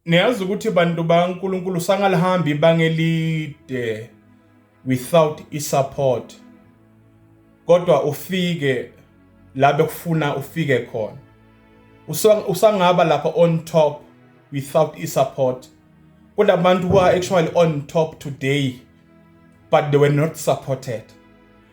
Niyazi ukuthi bantu baNkulunkulu sangalihambi ibanga elide without isupport. Kodwa ufike la bekufuna ufike khona. Usangaba lapha on top without isupport. Kunabantu who are actually on top today but they were not supported.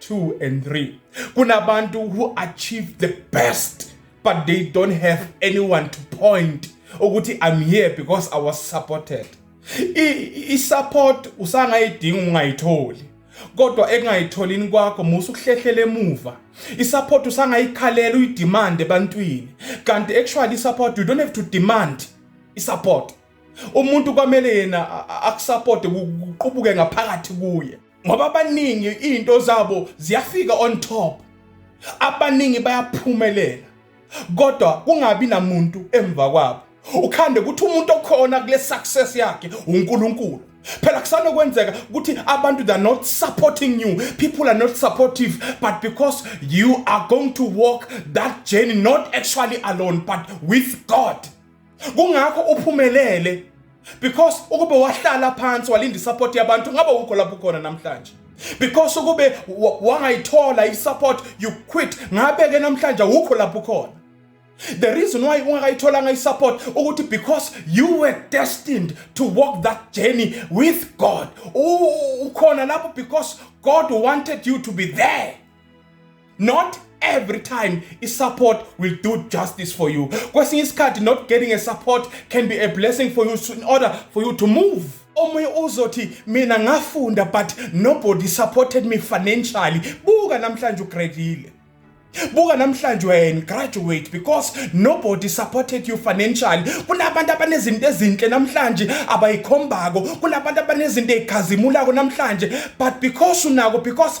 2 and 3 kunabantu who achieve the best but they don't have anyone to point ukuthi i'm here because i was supported i-support usangayidinga ungayitholi kodwa ekungayitholini kwakho musa ukuhlehlela emuva i-support usangayikhalela uyidemand ebantwini kanti actually i-support you don't have to demand i-support umuntu kwamele yena akusapote kuqubuke ngaphakathi kuye ngoba abaningi into zabo ziyafika on top abaningi bayaphumelela kodwa kungabi namuntu emva kwabo ukhande ukuthi umuntu okhona kule success yakhe uNkulunkulu phela kusanokwenzeka ukuthi abantu they're not supporting you people are not supportive but because you are going to walk that journey not actually alone but with God kungakho uphumelele because ukube wahlala phansi walinda isupport yabantu ngabe ukho lapho ukhona namhlanje because ukube wangayithola isupport you quit ngabe ke namhlanje ukho lapho ukhona the reason why ungakayitholanga isupport ukuthi because you were destined to walk that journey with God ukhona lapho because God wanted you to be there not every time support will do justice for you kwesinye isikhathi not getting a support can be a blessing for you in order for you to move omunye uzothi mina ngafunda but nobody supported me financially buka namhlanje ugradile buka namhlanje wena graduate because nobody supported you financially kunabantu abanezinto ezinhle namhlanje abayikhombako kunabantu abanezinto ezikhazimulako namhlanje but because unako because